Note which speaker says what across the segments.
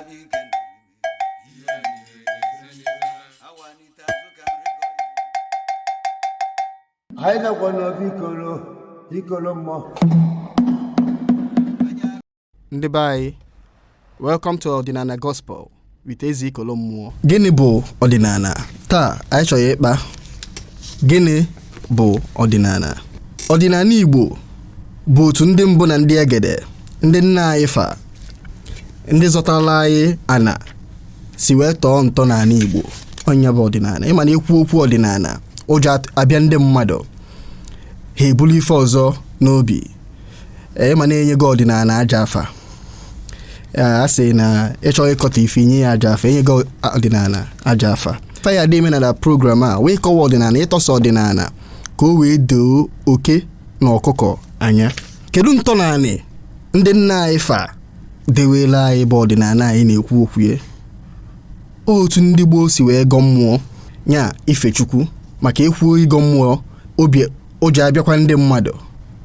Speaker 1: n'ike awanite
Speaker 2: azụ ka nri gọrọ anyị nakwa n'obi ikolo ikolo mmụọ ndị be anyị welcome to ọdịnala gospel with eze ikolo mmụọ gịnị bụ ọdịnala taa anyị chọrọ ịkpa gịnị bụ ọdịnala ọdịnala igbo bụ otu ndị mbụ na ndị egede ndị nna anyị fa ndị zọtara anyị ana si wee tọọ ntọ n'ala igbo ọ nya bụ ọdịnala ị ma na e kwuo okwu ọdịnala ụjọ at- abịa ndị mmadụ ha ebulu ife ọzọ n'obi Ee, ị ma na e nyego ọdịnala ajọ afa Ee, a sị na ị chọọ ịkọtọ ife i nye ya ajọ afa e nyego ọdịnala ajọ afa ife anyị dị eme na program a wụ ịkọwa ọdịnala ịtọsa ọdịnala ka o wee doo oke na ọkụkọ anya kedu ntọnanị ndị nna anyị fa dewere anyị bụ ọdịnala anyị na-ekwu okwu ya otu ndị gboo si wee gọọ mmụọ nya ife chukwu maka e kwuo ịgọ mmụọ obi ụjọ abịakwa ndị mmadụ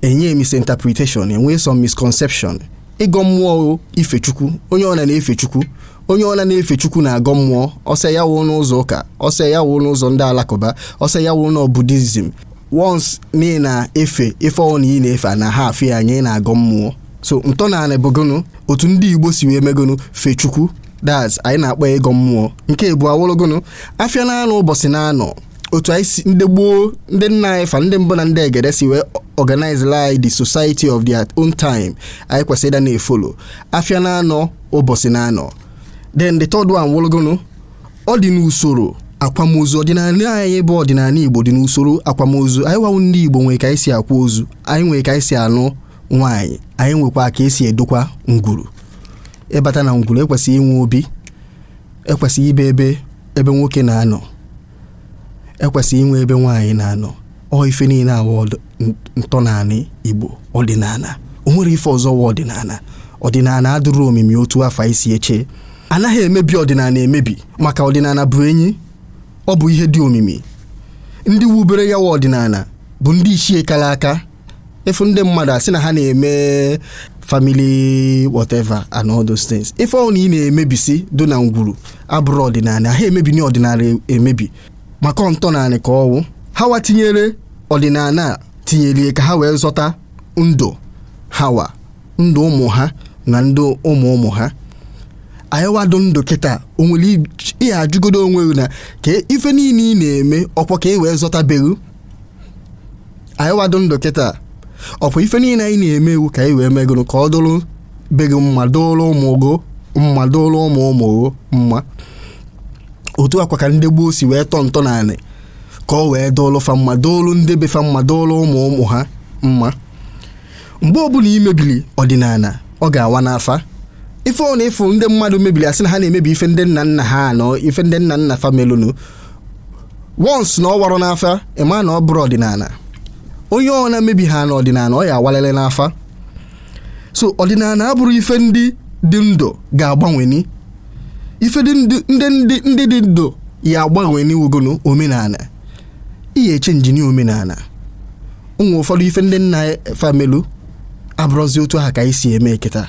Speaker 2: e nye misinterpretation e nwee some misconception ịgọ mmụọ ife chukwu onye ọna na-efe chukwu onye ọna na-efe chukwu na-agọ mmụọ ọ sọ ya wụ n'ụzọ ụka ọ sọ ya wụ n'ụzọ ndị alakụba ọ sọ ya wụ na Buddhism once na ị na-efe ife ọwụna ị na-efe a naha afụ ya anya ị na-agọ mmụọ so ntọnala bụgonu otu ndị igbo si wee megonu fee chukwu that's anyị na-akpọ ya ịgọ mmụọ nke ịbụọ awụrụgonu afịa na anọ ụbọchị na anọ otu anyị si ndị gboo ndị nna anyị fa ndị mbụ na ndị egede si wee organize like the society of their own time anyị kwesịrị ịdị na-efolo afịa na anọ ụbọchị na anọ then the third one wụrụgonu ọ dị n'usoro akwamozu ọdịnala anyị bụ ọdịnala Igbo dị n'usoro akwamozu anyị wa wụ ndị Igbo nwere ka anyị si akwa ozu anyị nwere ka anyị si anụ nwaanyị anyị nwekwa ka e si edokwa ngwuru ị bata na ngwuru e kwesịrị inwe obi e kwesịrị inwe ebe nwoke na-anọ e kwesịrị inwe ebe nwaanyị na-anọ ọ ife niile a wụ ntọnanị Igbo ọdịnala o nwerọ ife ọzọ wụ ọdịnala ọdịnala adịrọ omimi otu afụ anyị si eche anaghị emebi ọdịnala emebi maka ọdịnala bụ enyi ọ bụ ihe dị omimi ndị wubere ya wụ ọdịnala bụ ndị ichie kara aka ị fụ ndị mmadụ a sị na ha na-eme family whatever and all those things ife ọwụna ị na-emebisi dị na ngwuru abụrọ ọdịnala a ha emebini ọdịnala emebi maka ntọnanị ka ọ wụ ha wa tinyere ọdịnala a tinyerie ka ha wee zọta ndụ ha wa ndụ ụmụ ha na ndụ ụmụ ụmụ ha anyị wa dụ ndụ kịta o nwere ij- ihe ajụgodo onwe gị na ka ife niile ị na-eme ọkwa ka e wee zọta be gị anyị wa dụ ndụ kịta ọkwa ife niile anyị na-eme wu ka anyị wee megụrụ ka ọ dụrụ be gị mma dụrụ ụmụ gị mma dụrụ ụmụ ụmụ gị mma otu a kwa ka ndị gboo si wee tọọ ntọanị ka ọ wee dụrụ fa mma dụrụ ndị be fa mma dụrụ ụmụ ụmụ ha mma mgbe ọbụla ị mebili ọdịnala ọ ga-awa n'afa ife ọ na-efu ndị mmadụ mebili asị na ha na-emebi ife ndị nna nna ha na ife ndị nna nna fa melụnụ once na ọ warọ n'afa ịma na ọ bụrọ ọdịnala onye ọ na-emebi ha n'ọdịnala ọ ya awalele n'afa so ọdịnala abụrọ ife ndị dị ndụ ga-agbanweni ife dị ndụ- ndị ndị ndị dị ndụ ya agbanweni wugonu omenala ị ya echenjini omenala ụmụ ụfọdụ ife ndị nna fa melu abụrọzi otu ahụ ka anyị si eme kịta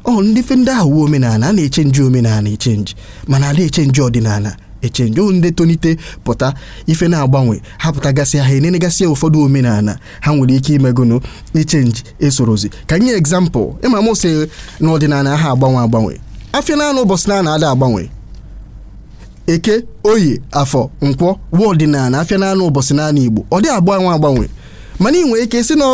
Speaker 2: ọ ndị ife ndị ahụ wu omenala a na-echenji omenala echenji mana ada echenji ọdịnala echenji o ndị tonite pụta ife na-agbanwe ha pụtagasị ha enenegasị ụfọdụ omenala ha nwere ike imegonu ichenji esorozi ka m nye example ịma m sị na ọdịnala aha agbanwe agbanwe afịa na anọ ụbọchị na anọ ada agbanwe eke oye afọ nkwọ wụ ọdịnala afịa na anọ ụbọchị na anọ igbo ọ dị agbanwe agbanwe mana ị nwere ike sị na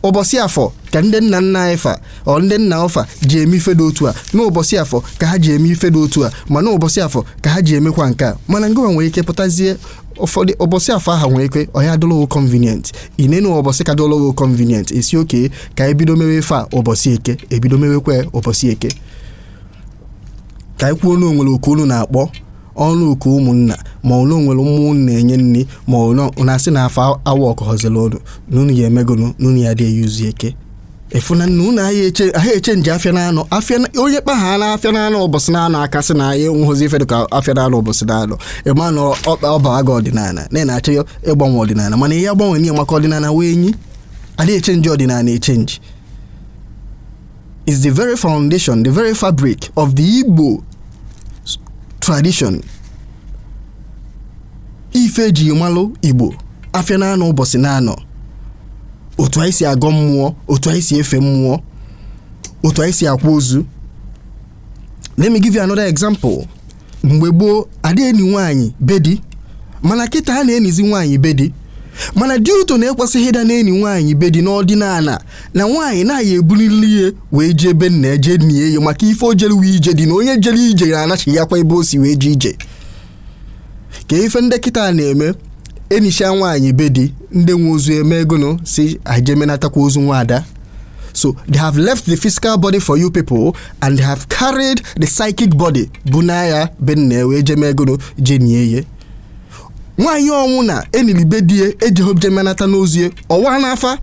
Speaker 2: ụbọchị afọ ka ndị nna nna anyị fa ọ ndị nna ọfa ji eme ife dị otu a n'ụbọchị afọ ka ha ji eme ife dị otu a ma n'ụbọchị afọ ka ha ji emekwa nke a mana ngịwa nwere ike pụtazie ụfọdụ ụbọchị afọ ahụ nwere ike ọ ya dụlụ ghụ convenient i nenu ụbọchị ka dụlụ ghụ convenient ị sị okay ka ebido mewe ife a ụbọchị eke ebido mewekwa ya ụbọchị eke ka anyị kwuo na o nwere oku unu na-akpọ ọnụ oku ụmụnna ma o nwere mmụọ unu na-enye nri ma unu na-asị na afọ awa ọkọhọziri unu na unu ya emegonu na unu ya dị eyuzu eke e fu na na unu aha eche aha echenji afịa na-anọ afịa na- onye kpa ha na afịa na-anọ ụbọchị na-anọ aka sị na anyị enweghịzi ife dịka afịa na-anọ ụbọchị na-anọ ịma na ọkpa ọbara gị ọdịnala na ị na-achọ ya ịgbanwe ọdịnala mana ihe agbanwe n'ihe maka ọdịnala wee nyi ada echenji ọdịnala echenji is the very foundation, the very fabric of the Igbo tradition. Ife eji malụ Igbo afịa na anọ ụbọchị na anọ otu anyị si agọ mmụọ otu anyị si efe mmụọ otu anyị si akwa ozu let me give you another example mgbe gboo adị eni nwaanyị be di mana kịta a na-enizi nwaanyị be di mana the truth na e kwesịghị ịdị na-eni nwaanyị be di n'ọdịnala na nwaanyị na a ya-ebulili ya wee jee ebe nna ya jee nie ya maka ife o jere wu ije di na onye jere ije na-anachiakwa ebe o si wee jee ije ka ife ndị kịta na-eme enisha nwaanyị be di ndị nwe ozu emegonu sị a je menatakwa ozu nwaada so they have left the physical body for you people and they have carried the psychic body buna ya be nna ya wee je mee gụnụ je nie ya nwaanyị ọwụna e nili be di ya ejehọ je menata n'ozu ya ọwa n'afa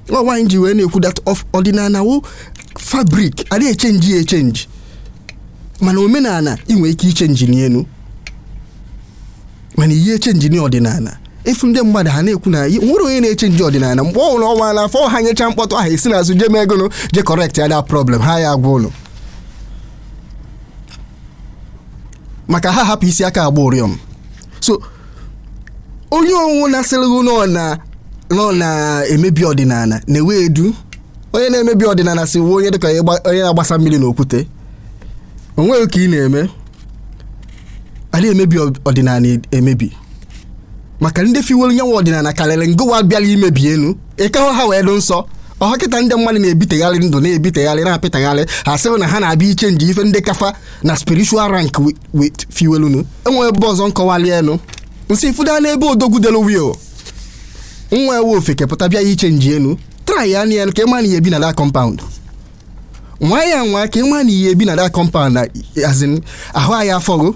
Speaker 2: nwaanyị ji wee na-ekwu that of ọdịnala wụ fabric adị echenji ya echenji mana omenala ị nwere ike ichenjini ya nụ mana ị ya echenjini ọdịnala ị fụ ndị mmadụ ha na-ekwu na ihe- nwere onye na-echenji ọdịnala mgbe ọ bụla ọnwa n'afọ ha nyecha mkpọtụ ahụ e si n'azụ jee mee gụnụ je correct ya that problem ha ya agwa ụlọ maka aha ahapụ isi aka agba ụrịọm so onye ọwụna sịrị gị na ọ na na ọ na-emebi ọdịnala na-ewe edu onye na-emebi ọdịnala si wụ onye dịka onye gba- onye na-agbasa mmiri n'okwute o nweghị ka ị na-eme a na-emebi ọ- ọdịnala emebi maka ndị fiwelu nya wụ ọdịnala karịrị ngụwa bịara imebi ya nụ ị kahụ ha wee dị nsọ ọha kịta ndị mmadụ na-ebitegharị ndụ na-ebitegharị na-apịtagharị ha sịrị na ha na-abịa ichenji ife ndị ka fa na spiritual rank wi- with fiwelu nụ e nwere ebe ọzọ m kọwali ya nụ m sị ị fụ that n'ebe odogwu delu will nwa ewu ofeke pụta bịa ichenji ya nụ try ya nụ ka ị ma na ị ya-ebi na that compound nwaa ya anwa ka ị ma na ị ya-ebi na that compound na azin ahụ anyị afụgo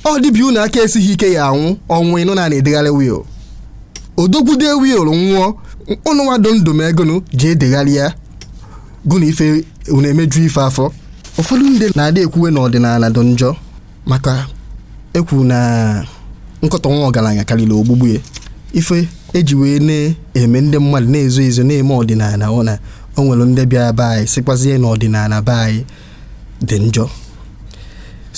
Speaker 2: ọ dịbi unu aka esighị ike ị ya-anwụ ọnwụ ị nụna na a na-edegharị will odogwu dee will nwụọ unu nwa dị ndụ mee gụnụ je edegharị ya gụna ife unu emeju ife afọ ụfọdụ ndị na-adị ekwuwe na ọdịnala dị njọ maka e kwu na nkọtọ nwa ọgaranya karịrị ogbugbu ya ife e ji wee na-eme ndị mmadụ na-ezo ezo na-eme ọdịnala ọ na o nwere ndị bịara be anyị sikwazie na ọdịnala be anyị dị njọ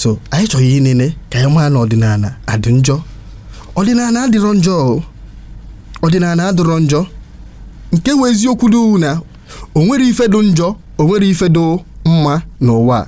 Speaker 2: so anyị chọrọ inene ka anyị maa na ọdịnala adị njọ ọdịnala adịrọ njọ o. ọdịnala adịrọ njọ nke wụ eziokwu dị na o nwere ife dị njọ o nwere ife dị mma n'ụwa a.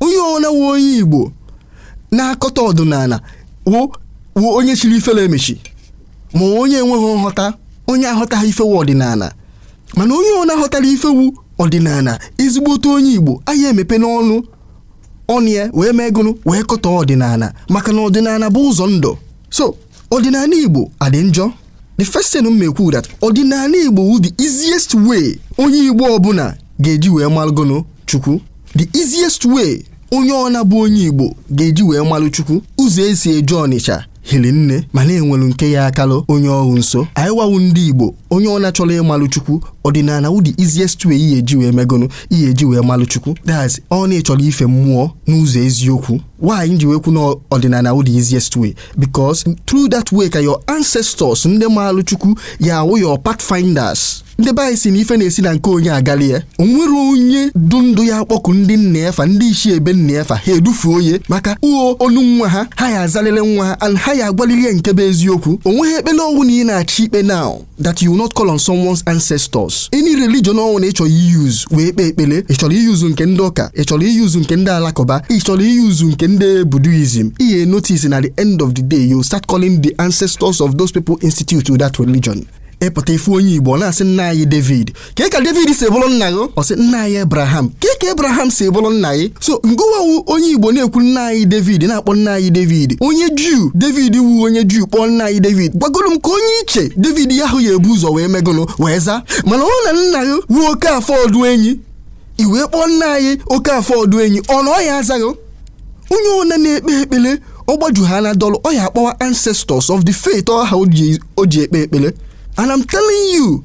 Speaker 2: onye ọna wụ onye igbo na-akọtọ ọdịnala wụ wụ onye chiri ifere emechi ma onye enweghị nghọta onye aghọtaghị ife wụ ọdịnala mana onye ọna ghọtara ife wụ ọdịnala ezigbote onye igbo aya emepeni ọnụ ọnụ ya wee mee gụnụ wee kọtọọ ọdịnala maka na ọdịnala bụ ụzọ ndụ so ọdịnala igbo adị njọ the first thing m ekwu that ọdịnala igbo wụ the easiest way onye igbo ọbụla ga-eji wee malụ gụnụ chukwu the easiest way onye ọna bụ onye igbo ga-eji wee malụ chukwu ụzọ e si eje ọnịcha hiri nne mana e nwelu nke ya-akalụ onye ahụ nso anyịwa wụ ndị igbo onye ọna chọrọ ịmalụ chukwu ọdịnala wụ the easiest way ị ya-eji wee mee gụnụ ị ya-eji wee malụ chukwu that's ọ na ị chọrọ ife mmụọ n'ụzọ eziokwu why m ji wee kwu na ọdịnala wụ the easiest way because through that way ka your ancestors ndị maalụ chukwu ya awụ your pathfinders ndị be anyị si na ife na-esi na nke onye agali ya o nwere onye dụ ndụ ya akpọku ndị nna efa ndị isi ebe nna efa ha edufuo ya maka ọ nwụ nwa ha ha ya azalele nwa ha and ha ya agwalili ya nke bụ eziokwu o nweghị ekpele ọnwụ na ị na-achọ ikpe now that you will not call on someone's ancestors any religion ọnwụ na ị chọrọ use wee kpee ekpele ị chọrọ use nke ndị ụka ị chọrọ use nke ndị alakụba ị chọrọ use nke ndị buddhism ị ya notice na the end of the day you start calling the ancestors of those people institute to that religion ị pụta ị fụ onye igbo ọ na-asị nna anyị david kee ka david si bụrụ nna gị ọ sị nna anyị abraham kee ka abraham si bụrụ nna gị so ngụwa wụ onye igbo na-ekwu nna anyị david na-akpọ nna anyị david onye juu david wu onye juu kpọọ nna anyị david gwagoro m ka onye ị che david ya ahụ ya ebu ụzọ wee mee gụnụ wee zaa mana ọ na nna gị wụ okafọ ọdụenyi i wee kpọọ nna anyị okafọ ọdụenyi ọ na ọ ya azaghị onye ọna na-ekpe ekpele ọ gbaju ha na dọlụ ọ ya akpọwa ancestors of the faith ahụ o ji ekpe ekpele and I'm telling you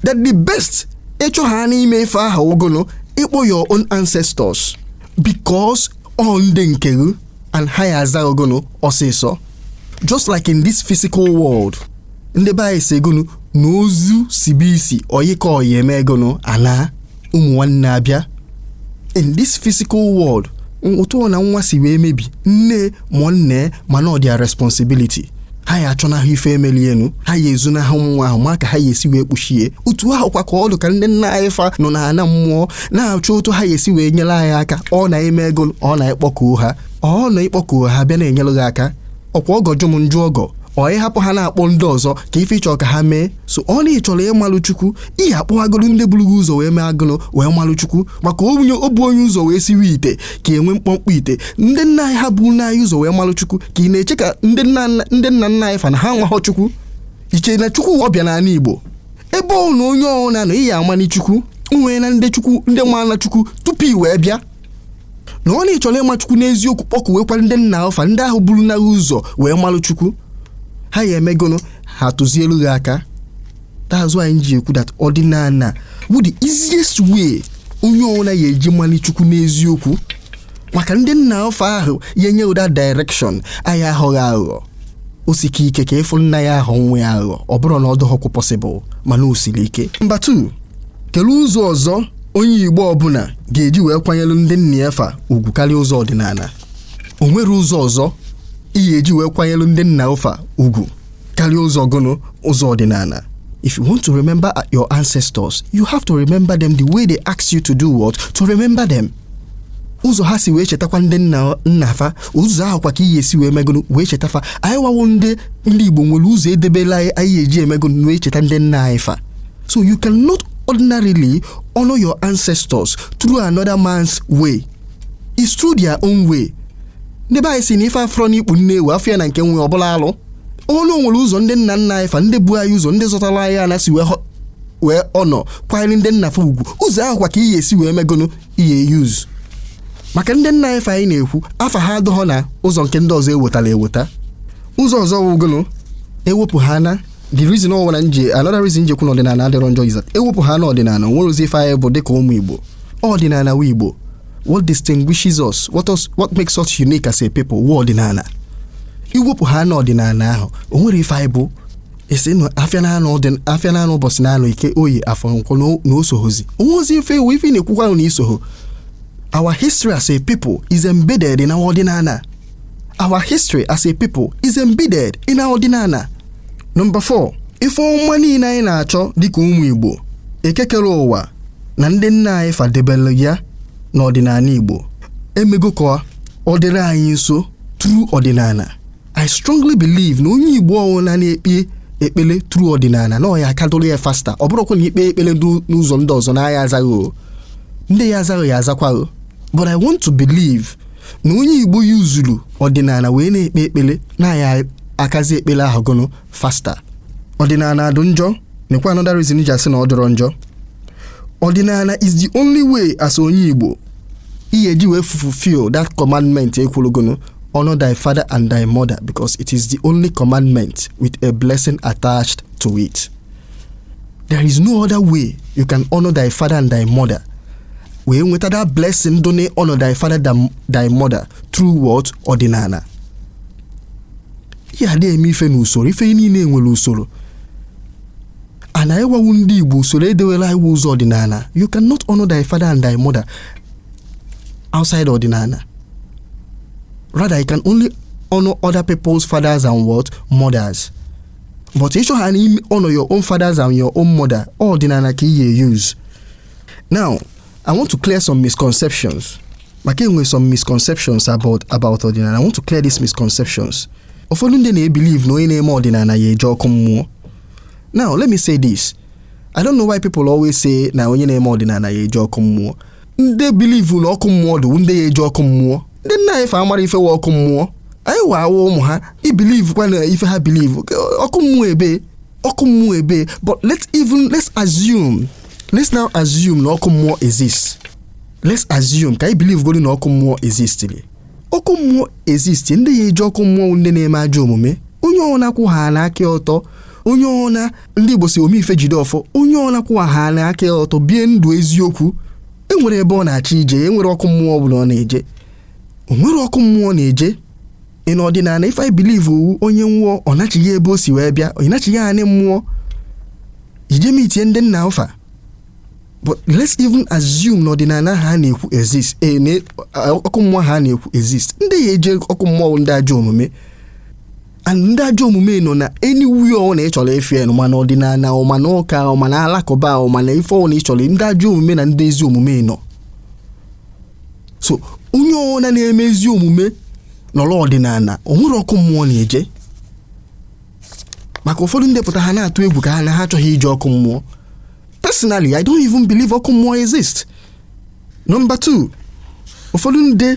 Speaker 2: that the best ịchọ ha n'ime ife ahụ gụnụ ịkpọ your own ancestors because ọ ndị nke gị and ha ya aza gụnụ ọsịsọ just like in this physical world ndị be anyị si gụnụ na ozu sibe isi ọyị ka ọyị eme gụnụ ana ụmụ nwanne abịa in this physical world n- otu ọna nwa si wee mebi nne ma nna ma na ọ their responsibility ha ya achọnahụ ife emeli enu ha ya ezunahụ nwa ahụ ma ka ha ya esi wee kpuchie otu ahụ kwa ka ọ dị ka ndị nna anyị fa nọ na ana mmụọ na-achọ otu ha ya esi wee nyere anyị aka ọ na i mee gụnụ ọ na i kpọkuo ha ọ na i kpọkuo ha bịa na-enyere gị aka ọkwa ọgọ jụ m m jụ ọgọ ọ ị hapụ ha na-akpọ ndị ọzọ ka ife ị chọ ka ha mee so ọ na ị chọrọ ịmalụ chukwu ị ya akpọghagolu ndị buru gị ụzọ wee mee gụnụ wee malụ chukwu maka o bu onye ụzọ wee siwe ite ka enwe mkpọmkpọ ite ndị nna anyị ha bu anyị ụzọ wee malụ chukwu ka ị na-eche ka ndị nna nna anyị fa na ha amaghọ chukwu ị che na chukwu ọbịa n'ala igbo ebe ọ na onye ọhụrụ na-anọ ị ya amani chukwu nwee na ndị chukwu ndị maana chukwu tupu i wee bịa na ọ na ị chọrọ ịma chukwu n'eziokwu kpọkuwekwara ndị nna gị fa ndị ahụ buru gị ụzọ wee malụ chukwu ha ya eme gụnụ ha tụzielu gị aka that's why m ji ekwu that ọdịnala bụ the easiest way onye ọbụla ya eji mali chukwu n'eziokwu maka ndị nna gị fa ahụ ya enye gị the direction ha ya aghọghị aghụghọ o sike ike ka ị fụ nna ya aghọ nwa ya aghụghọ ọ bụrọ na ọ dịghọkwu possible mana o siri ike number 2 kelee ụzọ ọzọ onye Igbo ọbụla ga-eji wee kwanyere ndị nna ya fa ugwu karịa ụzọ ọdịnala o nwere ụzọ ọzọ ị ya-eji wee kwanyere ndị nna ụ fa ugwu karịa ụzọ gụnụ ụzọ ọdịnala if you want to remember your ancestors you have to remember them the way they ask you to do what to remember them ụzọ ha si wee chetakwa ndị nna nna fa ụzọ ahụ kwa ka ị ya-esi wee mee gụnụ wee cheta fa anyị wa wụ ndị ndị Igbo nwere ụzọ edebela anyị eji eme gụnụ wee cheta ndị nna anyị fa So you cannot ordinarily honor your ancestors through another man's way. It's through their own way. Ndị be anyị sị na ife afụrọ n'ikpu nne ewu afụ ya na nke nwa ọ bụlụ alụ. Na o nwere ụzọ ndị nna nna anyị fa ndị bu anyị ụzọ ndị zọtara anyị ana si wee ho- wee honor kwanyere ndị nna fa ugwu ụzọ ahụ kwa ka ị ya-esi wee mee gụnụ ị ya-use maka ndị nna anyị fa anyị na-ekwu afa ha adọghọ na ụzọ nke ndị ọzọ ewetara eweta ụzọ ọzọ wụ gụnụ ewepụ ha na the reason ọ nwere m ji another reason m ji ekwu na ọdịnala adịrọ njọ is that ewepụ ha na ọdịnala o nwerọzi ife anyị bụ dịka ụmụ igbo ọdịnala wụ igbo what distinguishes us what, us, what makes us unique as a people wụ ọdịnala iwepụ ha na ọdịnala ahụ o nwerọ ife anyị bụ ị sị na afịa naanọ ọ dị afịa naanọ ụbọchị naanọ Eke Oye Afọ Nkwọ na- na o sohozi o nwehozi ife ị wụ ife ị na-ekwukwa wụ na i soho our history as a people is embedded in our ọdịnala Our history as a people is embedded in our ọdịnala. Number 4. Ife ọma niile anyị na-achọ dịka ụmụ Igbo Eke kere ụwa na ndị nna anyị fa debere ya n'ọdịnala Igbo emego ka ọ dịrị anyị nso through ọdịnala I strongly believe na onye Igbo ọwụla na-ekpe ekpele through ọdịnala na ọ ya-aka adụrụ ya faster ọ bụrụkwa na i kpee ekpele n'ụzọ ndị ọzọ na a ya-aza ghị o ndị ya-aza ghị ya-azakwa ghị but I want to believe na onye igbo yuzuru ọdịnala wee na-ekpe ekpere na a ya-aka aza ekpere ahụ gụnụ faster ọdịnala adụ njọ nekwa another reason m ji asị na ọ dịrọ njọ ọdịnala is the only way as onye igbo ị ya-eji wee fulfill that commandment e kwuru gụnụ honor thy father and thy mother because it is the only commandment with a blessing attached to it there is no other way you can honor thy father and thy mother wee nweta that blessing dị na honor thy father and thy mother through what ọdịnala ị ya-adị eme ife n'usoro ife niile nwere usoro anyị wa wụ ndị igbo usoro edewela anyị wụ ụzọ ọdịnala you cannot honor thy father and thy mother outside ọdịnala rather you can only honor other people's fathers and what mothers but ị chọ ha honour your own fathers and your own mother ọdịnala ka ị ya use now i want to clear some misconceptions maka e nwe some misconceptions about about ọdịnala i want to clear these misconceptions ụfọdụ ndị na-ebelieve na onye na-eme ọdịnala ya eje ọkụ mmụọ now let me say this i don't know why people always say na onye na-eme ọdịnala ya eje ọkụ mmụọ ndị believe na ọkụ mmụọ dị wụ ndị ya eje ọkụ mmụọ ndị nna anyị fa amara ife wa ọkụ mmụọ anyị wa wụ ụmụ ha ebelievekwa na ife ha believe ọkụ mmụọ ebe ọkụ mmụọ ebe but let's even let's assume let's now assume na ọkụ mmụọ exist let's assume ka anyị believe godi na ọkụ mmụọ existili ọkụ mmụọ exist ndị ya eje ọkụ mmụọ ndị na-eme ajọ omume onye ọna kwụhana aka ọtọ onye ọna ndị Igbo sị ome ife jide ọfọ onye ọla kwụwahana aka ọtọ bie ndụ eziokwu enwere ebe ọ na-achọ ije enwere ọkụ mmụọ ọ bụla ọ na-eje o nwere ọkụ mmụọ na-eje in ọdịnala ife believe wụ onye nwụọ ọ nachigha ebe o si wee bịa ọ nachigha anị mmụọ ije meetie ndị nna fa but let's even assume na ọdịnala ha na-ekwu exist ee na ọkụ mmụọ ha na-ekwu exist ndị ya eje ọkụ mmụọ ndị ajọ omume and ndị ajọ omume nọ na anywhere ọna ị chọrọ efe ya ma na ọdịnala ọ ma na ụka ọ ma na alakụba ọ ma na ife ọna ị chọrọ ndị ajọ omume na ndị ezi omume nọ so onye ọwụna na-eme ezi omume nọrọ ọdịnala o nwere ọkụ mmụọ na-eje maka ụfọdụ ndị pụta ha na-atụ egwu ka ha na ha achọghị ije ọkụ mmụọ personally i don't even believe ọkụ mmụọ exist number two ụfọdụ ndị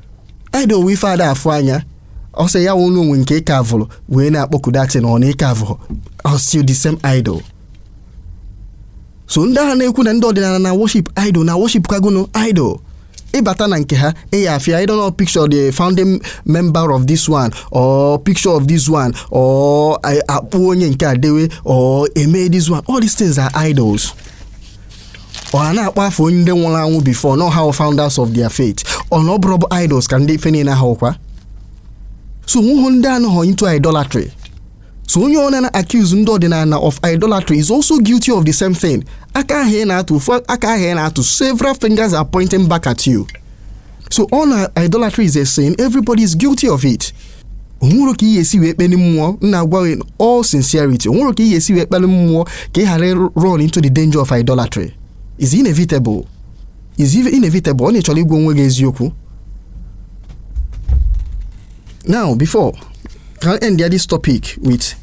Speaker 2: idol wụ ife ada afụ anya ọ sị ya wụrụ o nwe nke ị carvụrụ wee na-akpọku that thing ọna ị carvụrụ ọ still the same idol so ndị a na-ekwu na ndị ọdịnala na worship idol na worship kagono idol ị bata na nke ha ị ya afụ I don't know picture the founding member of this one or picture of this one or I- a kpụọ onye nke a dewe or eme this one all these things are idols or ha na-akpọ afa onye ndị nwụrụ anwụ before na ha wụ founders of their faith ọ na ọ bụrụ bụ idols ka ndị ife niile ahụ kwa so o nwehọ ndị anọhọ into idolatry so onye ọna na-accuse ndị ọdịnala of idolatry is also guilty of the same thing aka ahụ ị na-atụ ofu aka ahụ ị na-atụ several fingers are pointing back at you so ọ na idolatry is a sin everybody is guilty of it o nwere ka ị ga-esi wee kpeli mmụọ m na-agwa gị in all sincerity o nwere ka ị ga-esi wee kpeli mmụọ ka ị ghara run into the danger of idolatry is inevitable is even inevitable ọ na ị chọrọ ịgwa onwe gị eziokwu now before ka m endie this topic with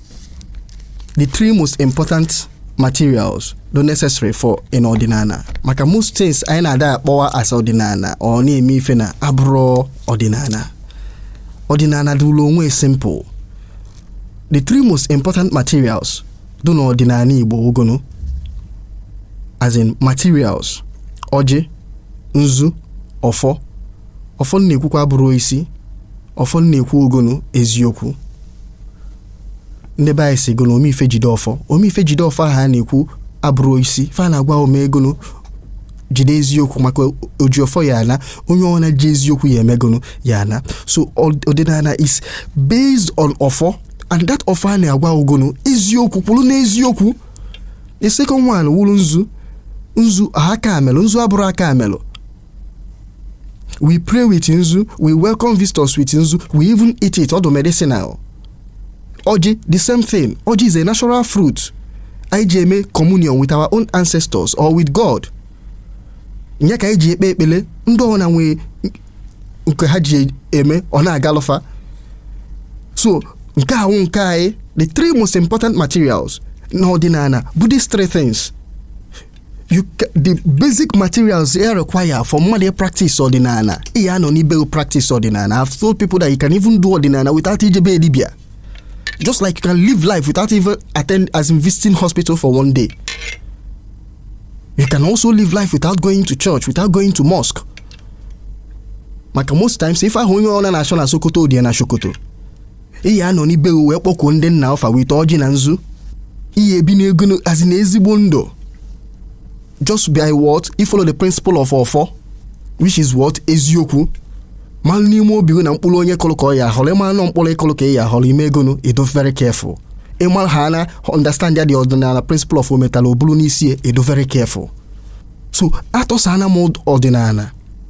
Speaker 2: the three most important materials dụ necessary for in ọdịnala maka most things anyị na-ada akpọwa as ọdịnala ọ na-eme ife na-abụrọ ọdịnala ọdịnala dụụlụ onwe simple the three most important materials dụ na ọdịnala igbo ọ gụnụ as in materials ọjị nzu ọfọ ọfọ m na-ekwukwa abụrọ osisi ọfọ m na-ekwu ọ gụnụ eziokwu ndị be anyị sị gụnụ ome ife jide ọfọ ome ife jide ọfọ ahụ a na-ekwu abụrọ osisi fa na-agwa gị mee gụnụ jide eziokwu maka oji ọfọ ya-ana onye ọna ji eziokwu ya-eme gụnụ ya-ana so ọ- ọdịnala is based on ọfọ and that ọfọ a na-agwa gị gụnụ eziokwu kwụrụ n'eziokwu the second one wụrụ nzu nzu aka amelụ nzu abụrọ aka melụ we pray with nzu we welcome visitors with nzu we even eat it ọ dụ medicinal ọjị the same thing ọjị is a natural fruit anyị ji eme communion with our own ancestors or with god nya ka anyị ji ekpe ekpele ndị ọna nwee nke ha ji eme ọ na-agalụ fa so nke a wụ nke anyị the three most important materials n'ọdịnala bụ these three things you ca- the basic materials you require for mmadụ ị practice ọdịnala ị ya-anọ n'ibe practice ọdịnala i've told people that you can even do ọdịnala without ije be dibia just like you can live life without even attend as in visiting hospital for one day you can also live life without going to church without going to mosque maka most times ife ahụ onye ọna na-achọ na sokoto dị ya na shokoto ị ya-anọ n'ibe gị wee kpọkuo ndị nna gị fa with ọjị na nzu ị ya-ebi na gụnụ as in ezigbo ndụ just by what ị follow the principle of ọfọ which is what eziokwu malụ n'ime obi gị na mkpụrụ onye kụlụ ka ọ ya-ahọrọ ị mara na ọ mkpụrụ ị kụlụ ka ị ya-ahọrọ ị mee gụnụ ị dụ very careful ị mara ha na understand ya the ọdịnala principle of ometala oburu n'isi ị dụ very careful so atọsana m ọdịnala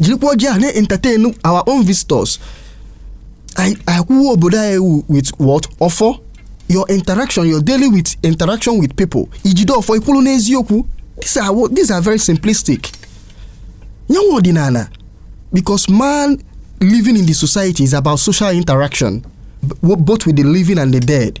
Speaker 2: jirikwa ọjị a na-entertain our own visitors anyị anyị kwuwe obodo anyị wu with what ọfọ your interaction your daily with interaction with people ijide ọfọ ịkwụlụ n'eziokwu these are, wo- these are very simplistic nyanwa ọdịnala because man living in the society is about social interaction b- both with the living and the dead